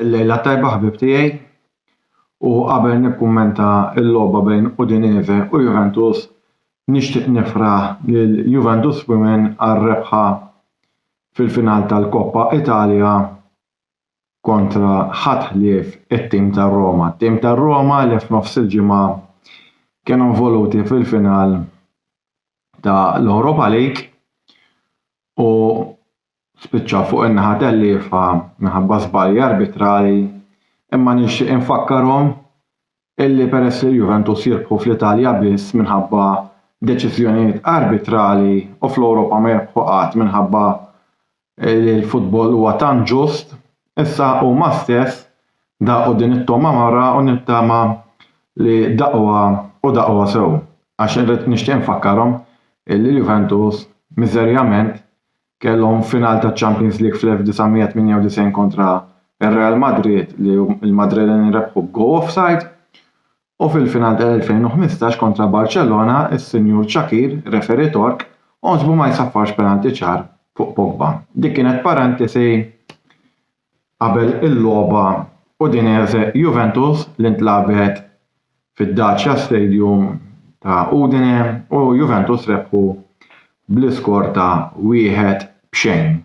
Il-lejla tajba ħbib tiegħi u qabel nikkummenta l-logħba bejn Udinese u Juventus nixtieq nifraħ lil Juventus Women għar-rebħa fil-final tal-Koppa Italja kontra ħadd ħlief it-tim tar-Roma. Tim tar-Roma li f'nofs il-ġimgħa kienu involuti fil-final ta' l-Europa League u spiċċa fuq in-naħa tal-liefa minħabba żbalji arbitrali imma nixtieq infakkarhom illi peress li l-Juventus jirbħu fl-Italja biss minħabba deċiżjonijiet arbitrali u fl-Ewropa ma jirbħu qatt minħabba li l-futbol huwa tant ġust, issa huma stess daqqu din it-togħma marha u nittama li daqqwha u daqqwha sew għax irrid nixtieq infakkarhom li l-Juventus miżerjament kellhom final taċ-Champions League fl-1998 kontra r-Real Madrid li l-Madrileni rebħu b'goal offside U fil-final tal-2015 kontra Barcellona, is-Sinjur Shaqir, referee Tork, għożbu ma jsaffarx penalty ċar fuq Pogba. Dik kienet parantesi qabel il-logħba Udinese Juventus li ntlagħbet fid-Dacia Stadium ta' Udine u Juventus rebħu bl-iskor ta' wieħed b'xejn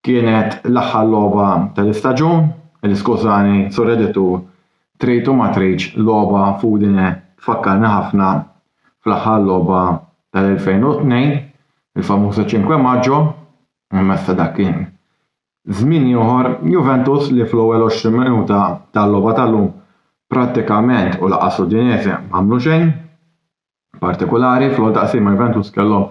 Kienet l-aħħar logħba tal-istaġun, il-Skużani sur editur, trid u ma tridx logħba f'Udine tfakkarni ħafna fl-aħħar logħba tal-2002, il-famuża Cinque Maggio, imma issa dak kien żmien ieħor, Juventus li fl-ewwel 20 minuta tal-logħba tal-lum prattikament u lanqas Udinese m'għamlu xejn. partikolari, fl-ewwel taqsima Juventus kellhom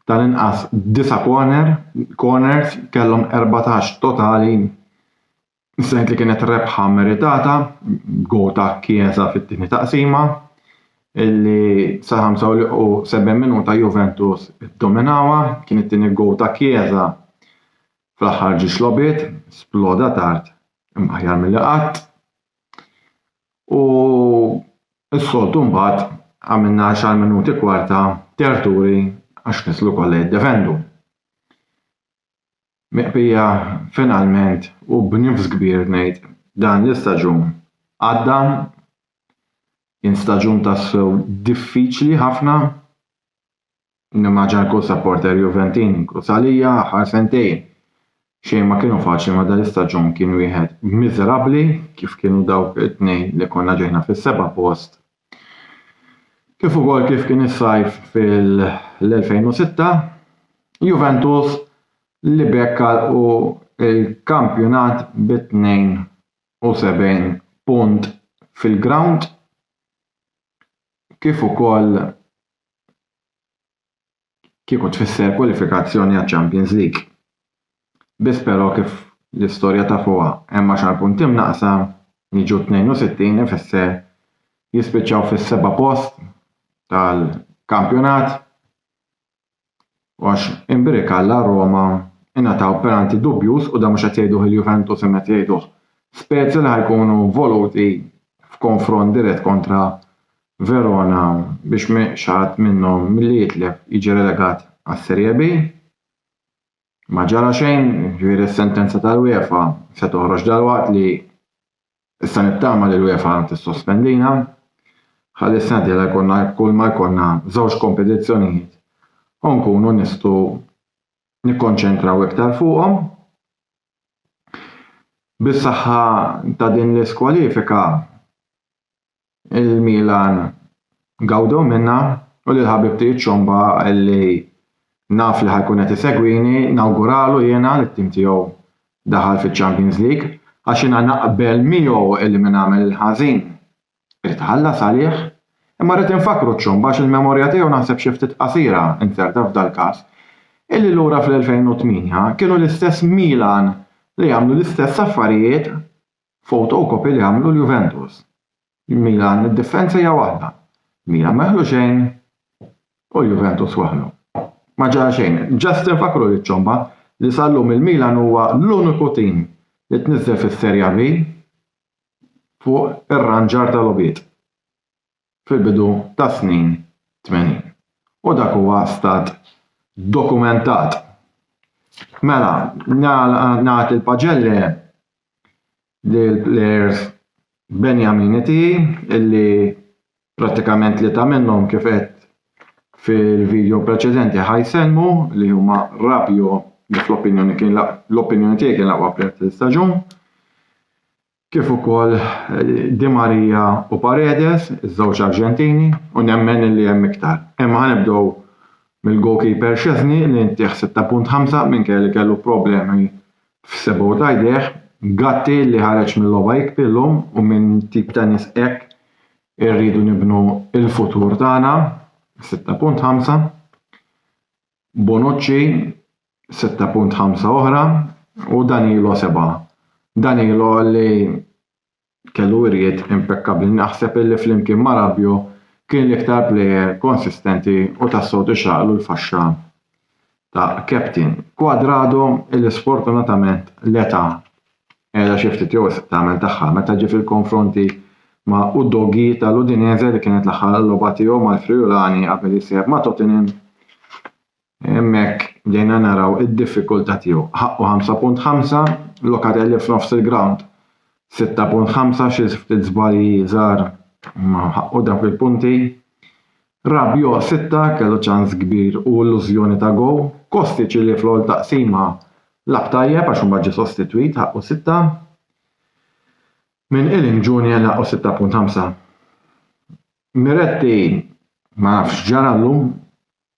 tal-inqas disa' corner, corners, kellhom 14 totali, sejt li kienet rebħa meritata, go ta' Chiesa fit-tieni taqsima, illi sal-75 minuta Juventus iddominawha, kien it-tieni go ta' Chiesa fl-aħħar ġiex logħbiet, sploda tard imma aħjar milli qatt. u s-soltu mbagħad għamilna għaxar minuti kwarta terturi għax nislu kollha jiddefendu. Miqbija finalment u b'nifs kbir ngħid dan l-istaġun għadda kien staġun tassew diffiċli ħafna Nimmaġina kull sapporter Juventin, inkluż għalija, l-aħħar sentejn xejn ma kienu faċli ma dal-istaġun kien wieħed miżerabbli kif kienu dawk it-tnejn li konna ġejna fis-seba' post kif ukoll kif kien is-sajf fil-2006. Juventus li b'hekk għalqu l-kampjonat bi 72 punt fil-grawnd kif ukoll kieku tfisser kwalifikazzjoni għaċ-Champions League. Biss però kif l-istorja tafuha hemm għaxar punti mnaqqsa, jiġu 62 ifisser jispiċċaw fis-seba' post tal-kampjonat. u għax inbrik Alla Roma ingħataw penalty dubjuż u dan mhux qed jgħiduh il-Juventus imma qed jgħiduh Spezia li ħa jkunu involuti f'konfront dirett kontra Verona biex ma xi ħadd minnhom milli jitlef jiġi relegat għas-Serie B. Ma ġara xejn, jiġifieri s-sentenza tal-UEFA se toħroġ dalwaqt li Issa nittama li l-UEFA tissospendina ħalli s-sena d-dieħla jkollna kull ma jkollna żewġ kompetizzjonijiet u nkunu nistgħu nikkonċentraw iktar fuqhom. Bis-saħħa ta' din l-iskwalifika il-Milan gawdew minnha u lil ħabib tiegħi ċ-Ċomba li naf li ħa jkun qed isegwini nawguralu jiena li t-tim tiegħu daħal fiċ-Champions League għax jiena naqbel miegħu li min għamel il-ħażin irid iħallas għalih. Imma rrid infakkru ċ-Ċomba għax il-memorja tiegħu naħseb xi ftit qasira, inzerta f'dal-każ, illi lura fl-2008 kienu l-istess Milan li għamlu l-istess affarijiet Photocopy li għamlu l-Juventus. Il-Milan id-difensa hija waħda. Milan ma jaħlu xejn u l-Juventus waħlu. Ma ġara xejn. Just infakkru liċ-ċomba li sal-lum il-Milan huwa l-uniku tim li tniżżel fis-Serie B fuq ir-ranġar tal-logħbiet. fil-bidu tas-snin 80. U dak huwa stat dokumentat. Mela, nagħti l-paġelle lill-plejers Benjamini tiegħi illi prattikament tlieta minnhom kif qed fil-video preċedenti ħajsellmu li huma Rabio li fl-opinjoni kien l-opinjoni tiegħi kien l-aqwa plejer tal-istaġun. kif ukoll Di Maria u Paredes, iż-żewġ Arġentini, u nemmen li hemm iktar. Imma ħanibdew mill-goalkeeper Szczesny li ntih 6.5 minkejja li kellu problemi f'sebgħu ta' jdejh, Gatti li ħareġ mil-logħba jikbi llum u minn tip ta' nies hekk irridu nibnu l-futur tagħna, 6.5. Bonucci sitta punt ħamsa oħra u Danilo seba'. Danilo li kellu wirjiet impekkabbli naħseb illi flimkien ma' Rabiot kien l-iktar plejer konsistenti u tassew tixraqlu l-faxxa ta' captain. Cuadrado illi sfortunatament l-età Qiegħda xi ftit jowesq tagħmel tagħha meta ġie fil-konfronti ma' Udogi tal-Udinese li kienet l-aħħar logħba tiegħu mal-Friulani qabel jissejjaħ ma' Tottenham. Hemmhekk bdejna naraw id-diffikultà tiegħu. Ħaqqu 5.5, Locatelli f'nofs il-grawnd 6.5 xi ftit żbalji żgħar imma ħaqqu dawk il-punti. Rabiot sitta kellu ċans kbir u illużjoni ta' goal. Kostic li fl-ewwel taqsima lagħab tajjeb għax imbagħad ġie sostitwit ħaqqu sitta. Minn Ealing Junior li ħaqqu 6.5. Miretti ma nafx x'ġaralu,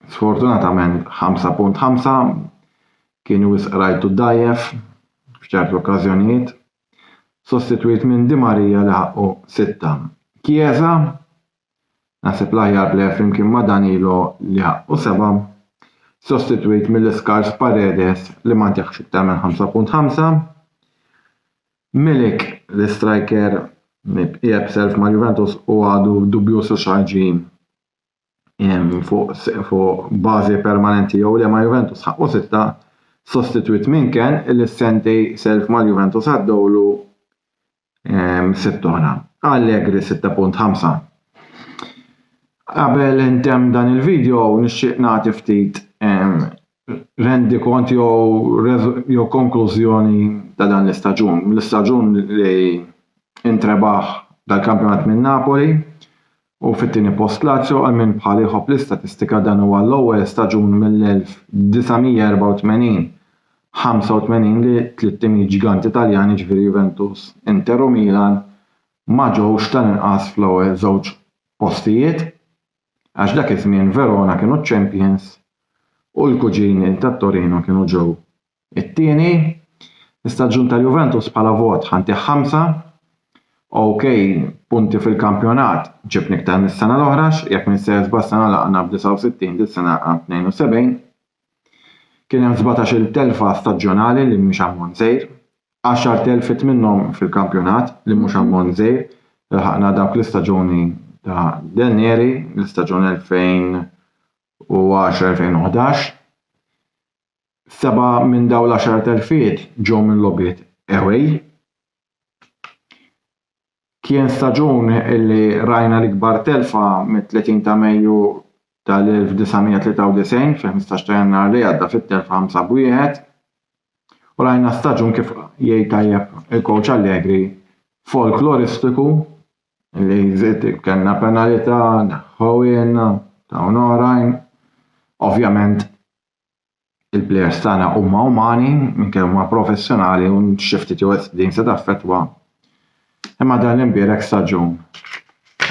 sfortunatament 5.5 kien wisq rajtu dgħajjef f'ċerti okkażjonijiet. Sostitwit minn Di Maria li ħaqqu sitta. Chiesa Naħseb l-aħjar plejer flimkien ma' Danilo li ħaqqu sebgħa, sostitwit mill-iskars Paredes li ma ntjahx iktar minn 5.5. Milik, l-istrajker li bqija b'self ma' Juventus u għadu dubbjuż hux ħajġi fuq bażi permanenti jew le ma' Juventus ħaqqu sitta, sostitwit minn Can li s-sentej self mal-Juventus għaddewlu sitt oħra. Allegri 6.5 Qabel intemm dan il-video nixtieq nagħti ftit rendi kont jew konklużjoni ta' dan l-istaġun. L-istaġun li intrebaħ dal-kampjonat minn Napoli u fit-tieni post Lazio għal min bħali jħobb l-istatistika dan huwa l-ewwel staġun mill-1984, 85 li tliet timijiet ġganti Taljani jiġifieri Juventus, Inter u Milan ma ġewx tal-inqas fl-ewwel żewġ postijiet għax dak iż-żmien Verona kienu ċ-champions u l-kuġini tat-Torino kienu ġew It-tieni staġun ta' Juventus bħala vot ħa ntih ħamsa. OK, punti fil-kampjonat ġibni iktar mis-sena l-oħra, jekk m'intx sejjer żball s-sena laqgħna b'69 dis-sena laqgħna b'72. Kien hemm sbatax-il telfa staġjonali li mhix ammont żgħir. Għaxar telfiet minnhom fil-kampjonat li mhux ammont żgħir. Lħaqna dawk l-istaġuni ta' Danieri, l-istaġun 2010-2011. seba' minn dawn l-għaxar telfiet ġew minn logħbiet away. Kien staġun li rajna l-ikbar telfa mit-30 ta' Mejju tal-1993 fil-15 ta' Jannar li għadda fit-telfa 5 b'wieħed u rajna staġun kif jgħid tajjeb il-kowċ Allegri folkloristiku li żied kellna penalità, neħħewhielna, tawna oħrajn. Ovvjament il-plejers tagħna huma umani, minkejja huma professjonali u xi ftit jew din se taffettwa. Imma dan l-imbierek staġun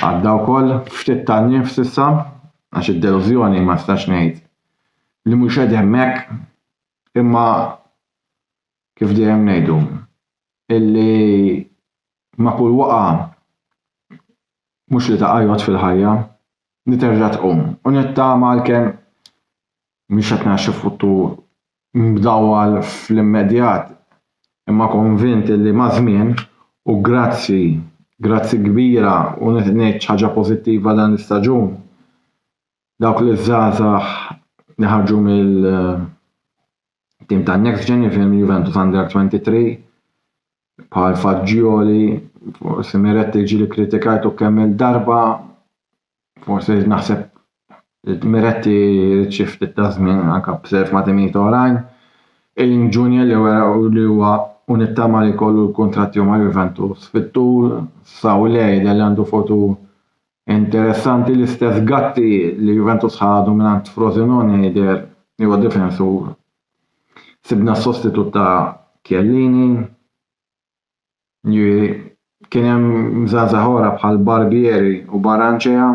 għadda wkoll ftit tagħnim s'issa għax id-delużjoni ma nistax ngħid li mhux qed hemmhekk imma kif dejjem ngħidu, illi ma' kull waqgħa mhux li taqa' jgħodd fil-ħajja, li terġa' tqum u nittama għalkemm mhix qed nara xi futur mdawwal fl-immedjat imma konvint illi maż-żmien u grazzi, grazzi kbira u ngħid xi ħaġa pożittiva dan l-istaġun, dawk li żgħażagħ li ħarġu mill-. tim ta' Next Gen jiġifieri Juventus Under 23 bħal Faġġioli, forsi Miretti ġili kritikajtu kemm il-darba, forsi naħseb Miretti ċifti ta' żmien anka b'serf ma' timijiet oħrajn. Ejn Junior li wera li huwa unittama li kollu l-kontratti ma' Juventus fit-tul, Sawlej li għandu fotu Interessanti l-istess Gatti li Juventus ħadu mingħand Frosinone jidher li huwa difensur. Sibna s-sostitut ta' Chiellini, jiġifieri kien hemm żgħażagħ oħra bħal Barbieri u Barranchea,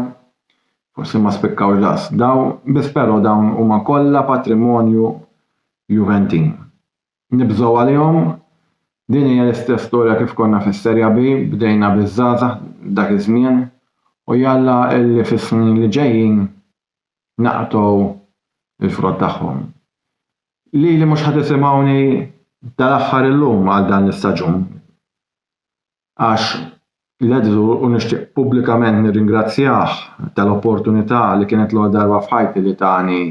forsi ma spikkawx daqs dawn, biss però dawn huma kollha patrimonju Juventin. Nibżgħu għalihom? Din hija l-istess storja kif konna fis-Seria B, bdejna biż-żgħażagħ dak iż-żmien u jalla illi fis-snin li ġejjin naqtgħu l-frott tagħhom. Lili mhux ħa tisimgħuni dal-aħħar illum għal dan l-istaġun. għax l-għeżżu u nixtieq pubblikament nirringrazzjah tal-opportunità li kienet l-ewwel darba f'ħajti li tani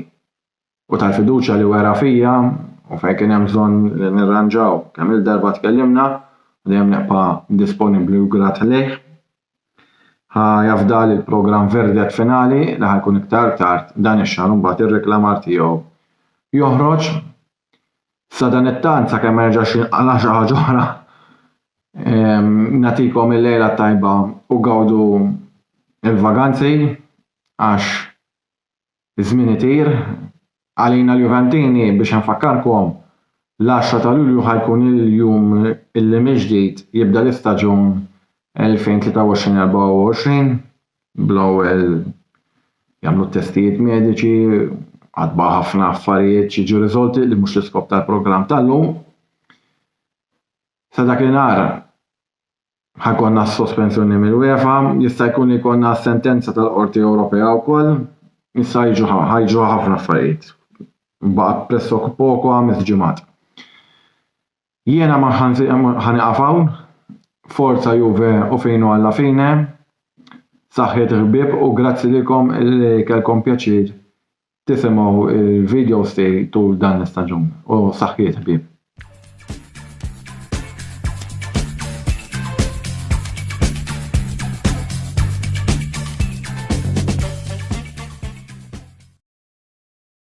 u tal-fiduċja li wera fija u fejn kien hemm bżonn li nirranġaw kemm-il darba tkellimna u dejjem nibqa' disponibbli u grat lejh. Ħa jafda li l-programm Verdet Finali li ħa jkun iktar tard dan ix-xahar imbagħad ir-reklamar tiegħu joħroġ Sadanittant, sakemm ma jerġax jinqala' xi ħaġa oħra, nagħtikom il-lejla t-tajba u gawdu l-vaganzi għax iż-żmien itir. Għalina l-Juventini, biex infakkarkom, l-għaxra ta' Lulju ħa jkun il-jum li mill-ġdid jibda l-istaġun 2023-24. bl-ewwel jagħmlu t-testijiet mediċi, għad baqa' ħafna affarijiet xi jiġu riżolti li mhux l-iskop tal-programm tal-lum. Sa dak inhar ħakonna s-sospensjoni mill-UEFA, jista' jkun li jkollna sentenza tal-Qorti Ewropea wkoll, issa jiġu ħajġu ħafna affarijiet. Baqa' pressok poco ħames ġimgħat. Jiena ma ħa nieqaf hawn. Forza Juve u finu alla fine. Saħħiet ħbieb u grazzi lilkom li kellkom pjaċir tisimgħu l-videos tiegħi tul dan l-istaġun u saħħiet ħbieb.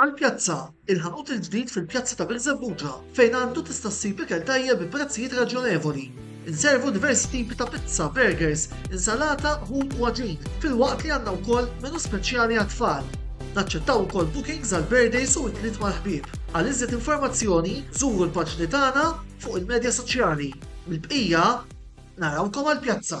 Għall-pjazza, il-ħanut il-ġdid fil-pjazza ta' Birżebbuġa fejn għandu tista' ssib ikel tajjeb bi prezzijiet raġjonevoli. Inservu diversi tipi ta' pizza, burgers, insalata, ħut u għaġin, filwaqt li għandna wkoll menu speċjali għat-tfal. Naċċettaw ukoll bookings għal birthdays u idliet mal-ħbieb. Għal iżjed informazzjoni, żuru l-paġni tagħna fuq il-medja soċjali. Mill-bqija, narawkom għall-pjazza!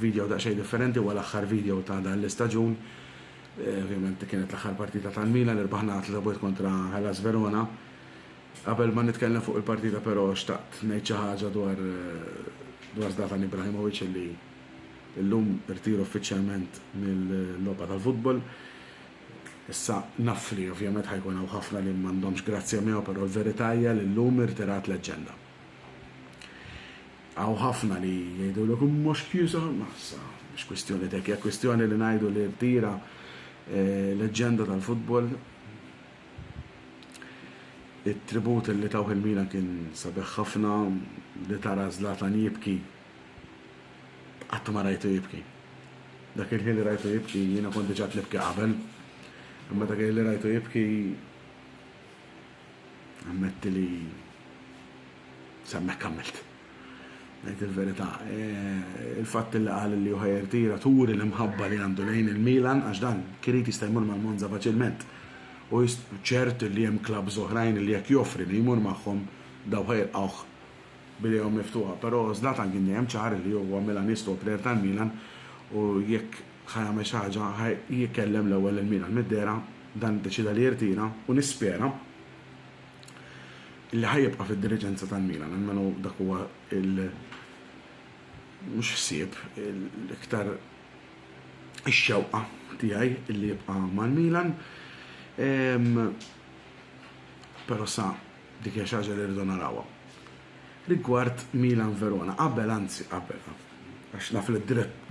Video daqsxejn differenti huwa l-aħħar video ta' dan l-istaġun. Ovvjament kienet l-aħħar partita tal-Milan li rbaħna tlieta bwiet kontra Hellas Verona. Qabel ma nitkellem fuq il-partita però xtaqt ngħid xi ħaġa dwar dwar Zlatan Ibrahimovic li llum irtira uffiċjalment mill-logħba tal-futbol. Issa naf li ovvjament ħajkun hawn ħafna li m'għandhomx grazzja miegħu però l-verità hija li llum irtirat leġġenda. Hawn ħafna li jgħidulok mhux Chiusa, ma issa mhix kwistjoni t'hekk, hija kwistjoni li ngħidu li rtira leġġenda tal-futbol. It-tribut li tawh il-Milan kien sabiħ ħafna, li tara Zlatan jibki qatt ma rajtu jibki. Dak il-ħin li rajtu jibki jiena kont diġà qed nibki qabel, imma dak il-ħin li rajtu jibki, Ammetti li semmek għamilt. Ngħid il-verità, e, il-fatt li qal li ħajr tira turi l-imħabba li għandu lejn il-Milan għax dan kirid jista' jmur mal-Monza faċilment. U ċert li hemm klabbs oħrajn li jekk joffri li jmur magħhom daw ħajlqgħuh bidejhom miftuħa, però Zlatan kien dejjem ċar li huwa Milanist u player tal-Milan u jekk ħa jagħmel xi ħaġa, ħa jkellem l-ewwel lil min għall-midderha, dan iddeċieda li jirtira u nispera li ħa jibqa' fid-diriġenza tal-Milan, almenu dak huwa l mhux ħsieb, l-iktar ix-xewqa tiegħi li jibqa' mal-Milan. Però sa Dik hija xi ħaġa li rridu narawha. Rigward Milan Verona, qabel, anzi qabel, għax naf li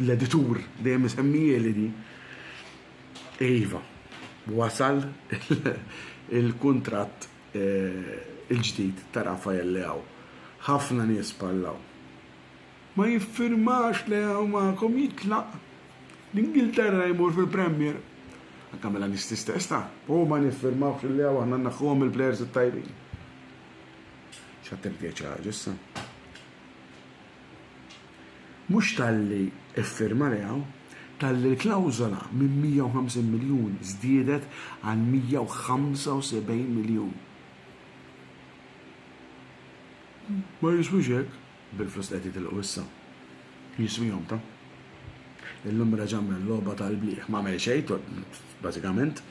l-editur dejjem isemmihieli din, iva, wasal il-kuntratt il-ġdid ta' Rafael Leao. Ħafna nies parlaw. ma jiffirmax Leao magħkom jitlaq l-Ingilterra jmur fil-Premier. Anke Milanisti stess ta. U ma niffirmawx lil Leao aħna nneħħuhom mill-plejers it-tajbin. X'għad trid tgħid xi ħaġa issa? Mhux talli ffirma Leao, talli l-klawżola minn 150 miljun żdiedet għal 175 miljun. Ma jiswix hekk. Bil-flus li qed jitilqu issa, jiswihom ta'. Illum reġa' għamel logħba tal-blieh. M'għamel xejn to, bażikament,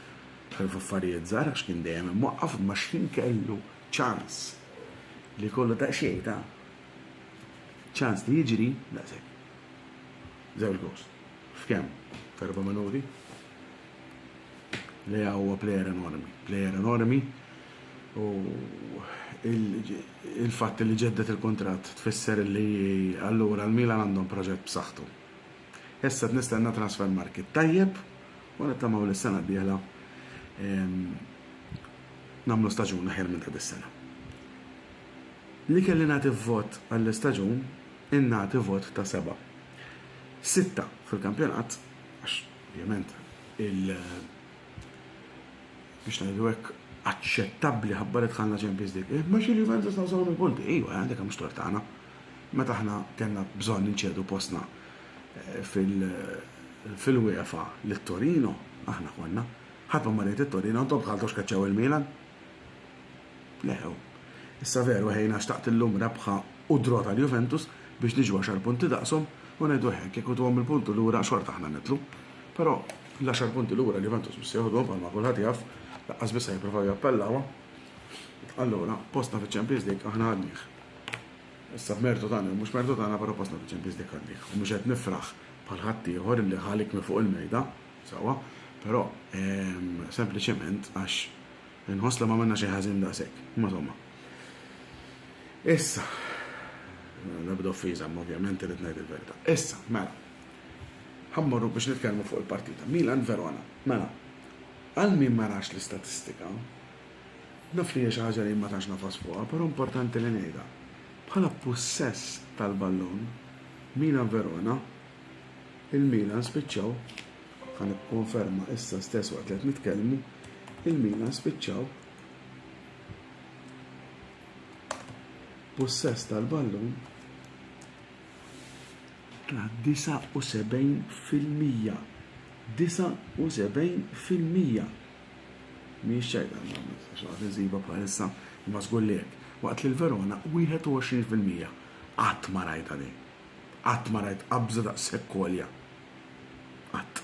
ħlief affarijiet żgħar għax kien dejjem imwaqqaf, imma x'ħin kellu ċans li jkollu daqsxejn ta' ċans li jiġri, daqshekk. Żewġ gowls. F'kemm? F'erba' minuti? Leao huwa plejer enormi. Plejer enormi u l-fatt li ġedded il-kuntratt tfisser li allura l-Milan għandhom proġett b'saħħtu. Issa qed nistenna transfer market tajjeb u nittamaw li s-sena d-dieħla nagħmlu staġun aħjar minn ta' dis-sena. Li kelli nagħti vot għall-istaġun ingħati vot ta' seba'. Sitta fil-kampjonat għax ovvjament il- biex ngħidu hekk, aċċettabbli ħabba li dħalna Champions League. Eh, ma xi Juventus ta' żewġ punti, ejwa, eh, dik mhux tort tagħna. Meta aħna kellna bżonn inċedu postna eh, fil fil-UEFA l-Torino, aħna konna, ħatma marriet il-Torino, għantom bħal tox kaċċaw il-Milan. Leħew. Issa veru ħejna xtaqt illum rebħa u draw tal-Juventus biex niġu għaxar punti daqshom u ngħidu hekk jekk ituhom il-punti lura xorta aħna nitlu. Però l-għaxar punti lura l-Juventus mhux se joħduhom bħalma kulħadd jaf, laqqas biss se jippruvaw jappellawha. Allura, postna fiċ-Champions League aħna għadnih. Issa b'mertu tagħna mhux mertu tagħna però postna fiċ-Champions League għadnih. U mhux qed nifraħ bħal ħaddieħor li ħalik minn fuq il-mejda. Sewwa, però sempliċement għax inħoss li m'għamilna xejn ħażin daqshekk. Imma somma. Issa, l-ebda offiża, imma ovvjament irid ngħid il-verità. Issa, mela. Ħammorru biex nitkellmu fuq il-partita. Milan Verona. Mela, għal min ma rax l-istatistika, naf li hija xi ħaġa li ma tantx nafas fuqha, però importanti li ngħidha. Bħala pussess tal-ballun, Milan Verona Il-Milan spiċċaw, ħa nikkonferma issa stess waqt li qed nitkellmu, il-Milan spiċċaw b'pussess tal-ballun ta' 79 fil-mija. 79 fil-mija. Mhijiex ċajta xogħol insiba bħalissa imma żgur li hekk. Waqt li l-Verona 21 fil-mija. Qatt ma rajta din. Qatt ma rajt qabża daqshekk għolja. Qatt.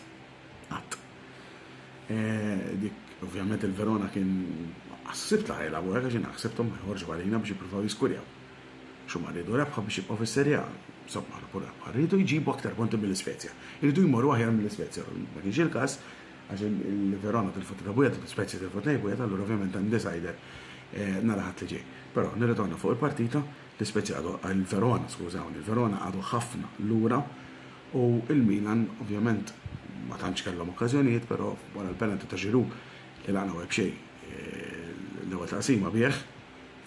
Qatt. E, dik, ovvjament il-Verona kien ħsibt la ħajla għura għax jina ħsibtom ma jħorġu għalina biex jippruvaw jiskurjaw. Xuma rridu rebħa biex jibqgħu fis-serja. Somma ħarbu rebħa. Rridu jġibu aktar punti mill-Isvezja. Rridu jmorru aħjar mill-Isvezja. Ma kienx il-każ għax il-Verona tilfu ta' Bujat, il-Spezia tilfu ta' Bujat, allura ovvjament għandi sajder e, nara ħadd li ġej. Però nirritorna fuq il-partita, L-Ispezia għadu, il-Verona, skużawni, il-Verona għadu ħafna lura u il-Milan ovvjament ma tantx kellhom okkażjonijiet, però wara l-penalty ta' Giroud li laqna u eb'xejn l-ewwel taqsima bih,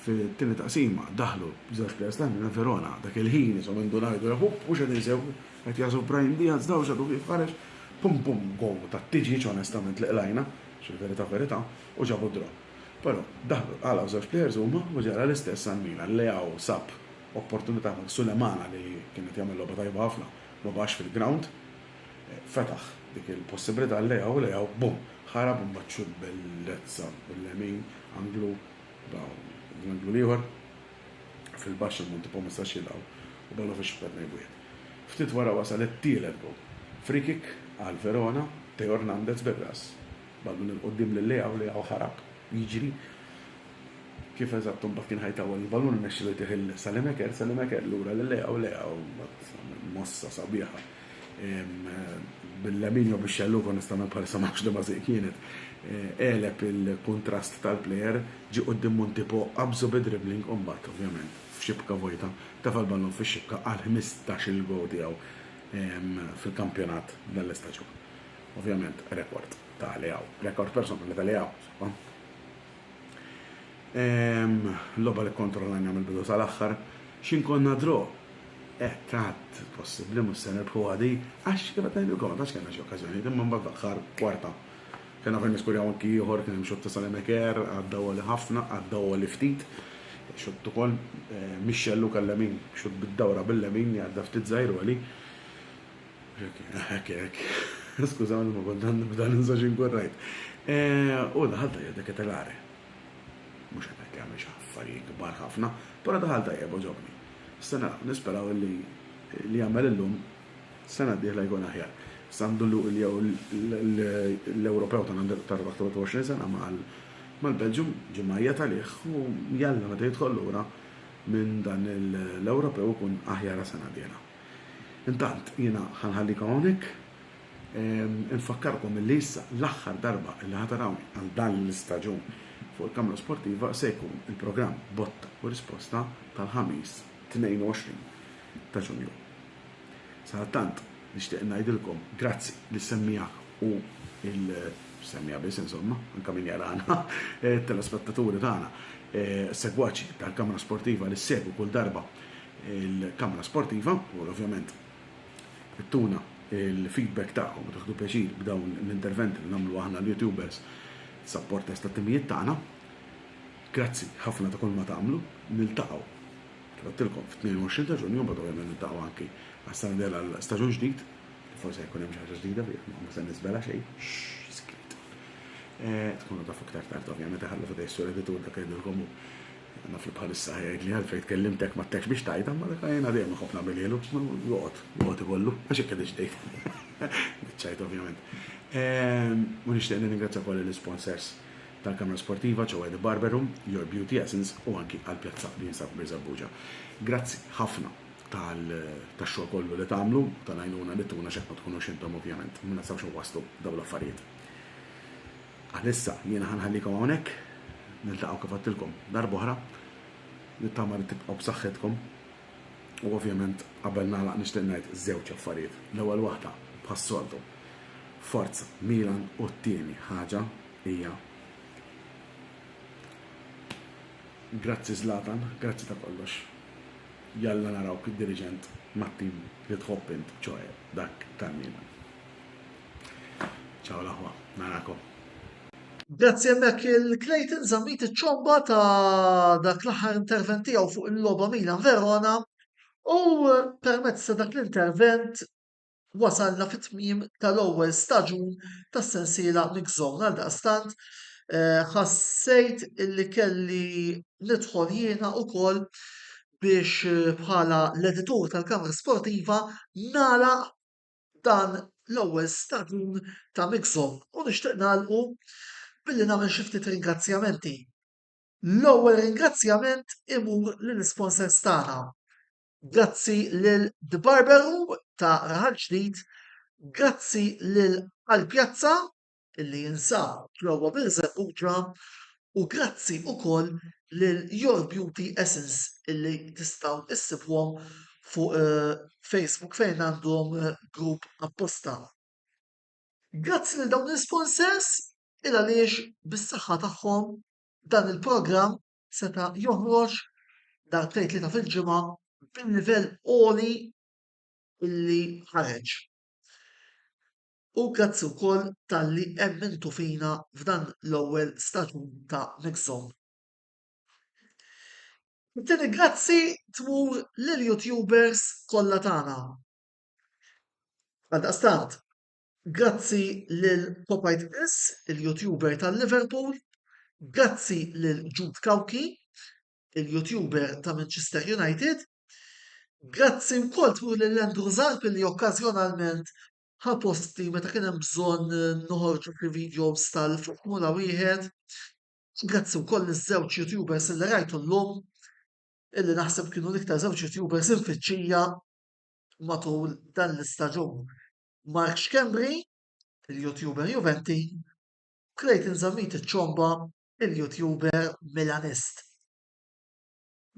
fit-tieni taqsima daħlu b'żewġ players ta' Milan, Verona dak il-ħin ishom indu ngħidu le hupp mhux qed insegwu, qed jagħżu Brahim Diaz dawl x'għadu kif ħareġ, pum pum goal ta' Tijic onestament li qlajna, x'il-verità verità, u ġabu d-draw. Però, daħlu, qalgħu żewġ plejers huma u ġara l-istess għall-Milan. Leao sab opportunità minn Sulemana li kien qed jagħmel logħba tajba ħafna ma baqax fil-grawnd. Fetaħ dik il-possibbilità għal Leao u Leao, bum! Ħarab u mbagħad xutt bellezza bil-lemin, anglu, bam! L-anglu l-ieħor fil-baxx ammont tipo ma setax jilqgħu u baqgħulu fix-xatt ta' tnejn b'wieħed. Ftit wara wasal it-tielet goal. Free kick għal Verona, Theo Hernandez bir-ras. Baqgħet minn 'il quddiem lil Lea u Lea u ħarab jiġri. Kif eżatt imbagħad kien ħajtawwal il-balun irnexxielu jtih 'il Salimaker. Salimaker lura lil Lea u Lea u mbagħad mossa sabiħa bil-lemin jew bix-xellug onestament bħalissa ma nafx liema żiq kienet, għeleb il-kuntrast tal-plejer, ġie quddiem Montipo, qabżu bi dribbling u mbagħad ovvjament f'xibka vojta tefa' l-ballun fix-xibka għall-ħmistax-il gowl tiegħu fil-kampjonat dan l-istaġun. Ovvjament rekord ta' Leao. Rekord personali ta' Leao. Ehm, loba li kontrollajna mill-bidu tal-aħħar. Xin konna dro? Eh, tat, possibli mus se nirbħu għadi, għax kif qed ngħidilkom, għax kellna xi okkażjoni, imma mbagħad l-aħħar kwarta. Kena fejn niskurjaw anki ieħor kien hemm xotta sal-emeker, għadda għoli ħafna, għadda għoli ftit. Xott ukoll eh, Mixxellu kellemin, xott bid-dawra bil-lemin, għadda ftit żgħir għoli. Hekk, hekk. Skużawni ma kont għandi nibda ninsa xi nkun rajt. U daħal tajjeb dak it-telare. Mhux qed ngħid li għamel xi affarijiet kbar ħafna, però daħal tajjeb għoġobni. Se naraw, nisperaw li li jagħmel illum sena d-dieħla jkun aħjar. Sandu l-Ewropew ta' għandu ta' 23 sena mal-Belġum ġie mgħajjat għalih u jalla meta jidħol lura minn dan l-Ewropew ikun aħjar għas-sena d-dieħla. Intant jiena ħa nħallikom hawnhekk. Infakkarkom illi issa l-aħħar darba illi ħa tarawni għal dan l-istaġun fuq il-Kamra Sportiva se jkun il-programm Botta u Risposta tal-Ħamis 22 ta' Ġunju. Sadattant nixtieq ngħidilkom grazzi lis-semmiegħa u l-semmiegħa biss insomma, anke min jarana, telespettaturi tagħna, segwaċi tal-Kamra Sportiva li ssegwu kull darba il-kamra sportiva u ovvjament ittuna l-feedback tagħkom u tieħdu pjaċir b'dawn l-interventi li nagħmlu aħna l-YouTubers supporters tat-timijiet tagħna. Grazzi ħafna ta' kulma tagħmlu. Niltaqgħu kif għedtilkom fit-22 ta' Ġunju mbagħad ovvjament niltaqgħu anki għas-sena d-dieħla għal staġun ġdid. Forsi jkun hemm xi ħaġa ġdida fih, ma ma se niżvela xejn. Skiet. Tkunu tafu iktar tard ovvjament iħallu f'idej sur editur dak li ngħidilkom hu. Naf li bħalissa ħajgħidli għalfejn tkellimtek m'għadtekx biex tgħidha, imma dak jiena dejjem inħobb nagħmilhielu, joqgħod, joqgħod ikollu, għax hekk qegħdilx tgħid. Biċċajt ovvjament. U nixtieq nirringrazzja wkoll lill-isponsors tal-Kamra Sportiva, ċewwa The Barber Room, Your Beauty Essence u anki għall-pjazza li jinsab Birżebbuġa. Grazzi ħafna tax-xogħol kollu li tagħmlu, tal-għajnuna li tuna għax hekk ma tkunux intom ovvjament, ma nistgħux inwasslu dawn l-affarijiet. Għalissa jiena ħa nħallikom hawnhekk, niltaqgħu kif għedtilkom darb'oħra, nittama li tibqgħu b'saħħitkom u ovvjament qabel nagħlaq nixtieq ngħid żewġ affarijiet, l-ewwel waħda bħas-soltu forza Milan u t-tieni ħaġa hija grazzi Zlatan, grazzi ta' kollox, jalla narawk diriġent mat-tim li tħobb int, ċoe dak tal-Milan. Ciao l-aħwa, narakom. Grazzi hemmhekk il-Clayton żammit iċ-ċomba ta' dak l-aħħar intervent tiegħu fuq il-logħba Milan Verona u permezz ta' dak l-intervent wasalna fit-tmiem tal-ewwel staġun tas-sensiela Mix Zone għal daqstant eh, ħassejt illi kelli nidħol jiena ukoll biex eh, bħala l-editur tal-Kamra Sportiva nagħlaq dan l-ewwel staġun ta' Mixo u nixtieq nagħlqu billi nagħmel xi ftit ringrazzjamenti. L-ewwel ringrazzjament imur lill-isponsors tagħna. Grazzi lil The Barber Room ta' Raħal Ġdid, grazzi lil Għall-Pjazza li jinsab ġewwa Birżebbuġa u grazzi wkoll lil Your Beauty Essence li tistgħu issibuhom fuq Facebook fejn għandhom grupp apposta. Grazzi lil dawn l-isponsors il għaliex bis-saħħa tagħhom dan il-programm seta' joħroġ darbtejn tlieta fil-ġimgħa bil-livell għoli li ħareġ. U grazzi wkoll talli emmintu fina f'dan l-ewwel staġun ta' Mixhome. It-tieni grazzi tmur lill-YouTubers kollha tagħna. Għaldaqstant, grazzi lil Popeyed Chris, il-YouTuber ta' Liverpool, grazzi lil Jude Cauchi, il-YouTuber ta' Manchester United, grazzi wkoll tmur lil Andrew Zarb li okkażjonalment ħa posti meta kien hemm bżonn noħorġu xi videos tal-Formula Wieħed. Grazzi wkoll iż-żewġ YouTubers li rajtu llum illi naħseb kienu l-iktar żewġ YouTubers infittxija matul dan l-istaġun. Mark Schembri, il-YouTuber Juventi, Clayton Zammit iċ-ċomba, il-YouTuber Milanist.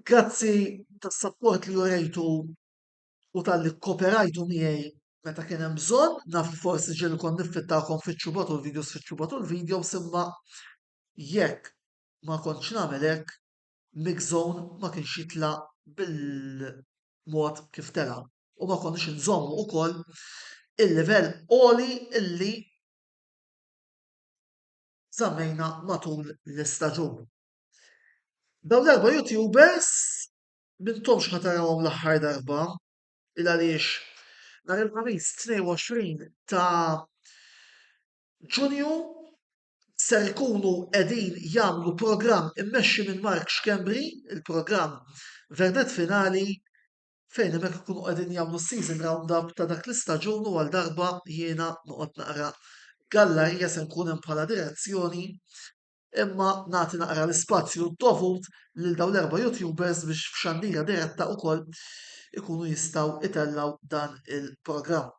Grazzi tas-sapport li urejtu u talli kkooperajtu miegħi meta kien hemm bżonn, naf li forsi ġieli kont niffittakom fiċ-ċubat u l-videos fiċ-ċubat u l-videos imma jekk ma kontx nagħmel hekk, Mixzone ma kienx jitla' bil-mod kif tela' u ma konniex inżommu wkoll il-livell għoli li żammejna matul l-istaġun. Dawn l-erba' YouTubers M'intomx ħa tarawhom l-aħħar darba, il-għaliex nhar il-Ħamis 22 ta' Ġunju ser ikunu qegħdin jagħmlu programm immexxi minn Mark Schembri, il-programm Vernet Finali fejn hemmhekk ikunu qegħdin jagħmlu s-season roundup ta' dak l-istaġun u għal darba jiena noqgħod naqra gallarija se nkun hemm bħala direzzjoni imma nagħti naqra l-ispazju dovut lil dawn l-erba' YouTubers biex f'xandira diretta wkoll ikunu jistgħu itellgħu dan il-programm.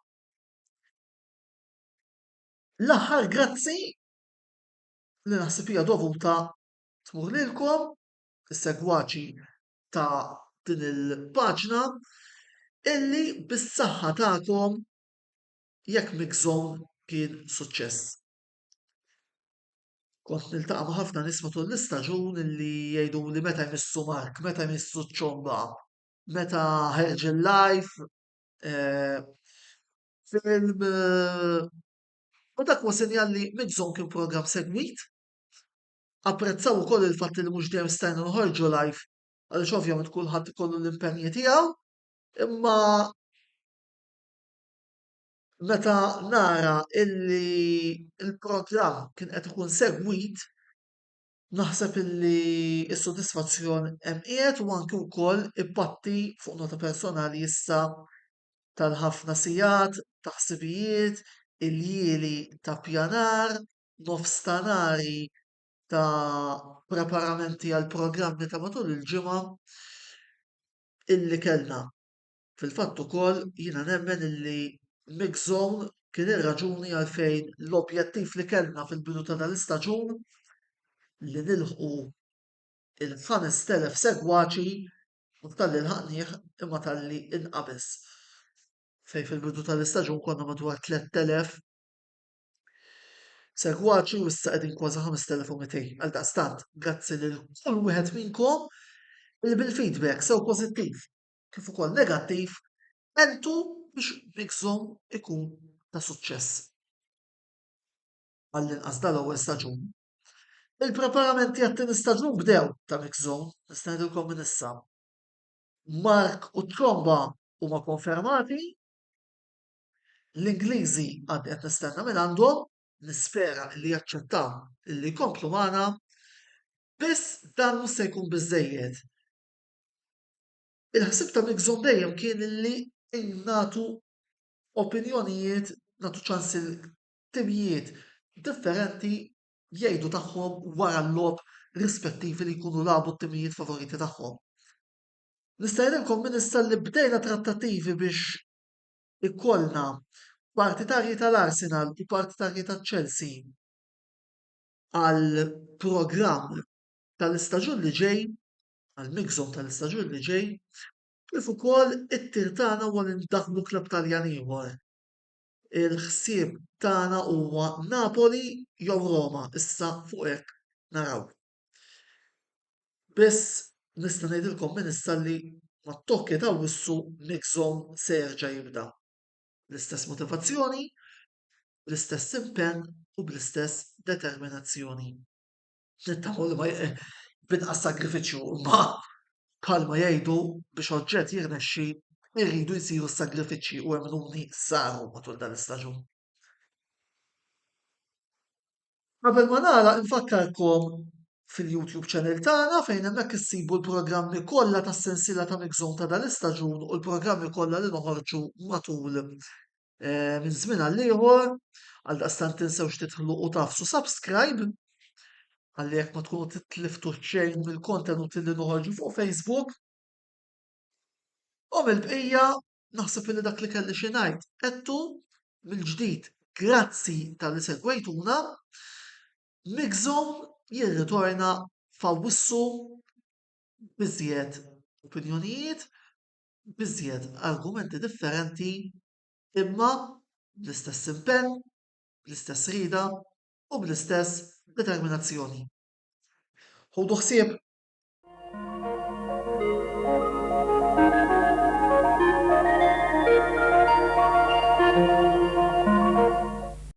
L-aħħar grazzi li naħseb hija dovuta tmur lilkom is-segwaċi ta' din il-paġna illi bis-saħħa tagħkom jekk Mixzone kien suċċess. Kont niltaqa' ma' ħafna nies matul l-istaġun li jgħiduli meta jmissu Mark, meta jmissu ċ-ċomba, meta ħereġ il-live film u dak huwa sinjal li Mix Zone kien programm segwit. Apprezzaw ukoll il-fatt li mhux dejjem stajna noħorġu live għaliex ovvjament kulħadd ikollu l-impenji tiegħu imma Meta nara illi l-programm kien qed ikun segwit, naħseb illi s-sodisfazzjon hemm qiegħed u anki wkoll impatti fuq nota personali issa tal-ħafna sigħat ta' ħsibijiet, iljieli ta' ppjanar, nofstanari ta' preparamenti għall-programmi ta' matul il-ġimgħa illi kellna. Fil-fatt ukoll jiena nemmen illi Mick Zone kien ir-raġuni għalfejn l-objettiv li kellna fil-bidu ta' dan l-istaġun li nilħqu l-ħamest telef segwaċi mhux talli lħaqnih imma talli inqabeż. Fejn fil-bidu tal-istaġun konna madwar 3,000 segwaċi u issa qegħdin kważi 5,200. Għaldaqstant, grazzi lil kull wieħed minnkom illi bil-feedback sew pożittiv kif ukoll negattiv għentu biex Bixom ikun ta' suċċess. Għall-inqas dal-ewwel staġun. Il-preparamenti għat-tieni staġun bdew ta' Bixom, nista' ngħidilkom minn issa. Mark u Tromba huma konfermati. L-Ingliżi għad qed nistenna minn għandhom, nispera li jaċċettaw li jkomplu magħna. Biss dan mhux se jkun biżejjed. Il-ħsieb ta' Nixon dejjem kien li nagħtu opinjonijiet, nagħtu ċans lil timijiet differenti jgħidu tagħhom wara l-logħob rispettivi li jkunu lagħbu t-timijiet favoriti tagħhom. Nista' ngħidilkom minn issa li bdejna trattattivi biex ikollna partitarji tal-Arsenal u partitarji taċ-Chelsea għall-programm tal-istaġun li ġej għall-mixzun tal-istaġun li ġej kif ukoll it-tir tagħna huwa li ndaħħlu klabb Taljan ieħor. Il-ħsieb tagħna huwa Napoli jew Roma issa fuq hekk naraw. Biss nista' ngħidilkom minn issa li mat-tokki ta' wissu mixzun se jerġa' jibda bl-istess motivazzjoni, bl-istess impenn u bl-istess determinazzjoni. Nittamaw li ma binqas sagrifiċċju imma bħalma jgħidu biex oġġett jirnexxi irridu jsiru s-sagrifiċċji u emnuni saru matul dan l-istaġun. Qabel ma nagħlaq infakkarkom fil-YouTube channel tagħna fejn hemmhekk issibu l-programmi kollha tas-sensiela ta' Mix Zone ta' dan l-istaġun u l-programmi kollha li noħorġu matul eh, minn żmien għal ieħor, għal daqstan tinsewx titħlu u tafsu subscribe għalli jekk ma tkunu titliftu xejn mill-kontenuti li noħorġu fuq Facebook. U mill-bqija naħseb li dak li kelli xi ngħid qedtu mill-ġdid grazzi tal-li segwejtuna. Migżom jirritorna fawissu biżjed opinjonijiet b'iżjed argumenti differenti imma bl-istess impenn, bl-istess rieda u bl-istess determinazzjoni. Ħudu ħsieb!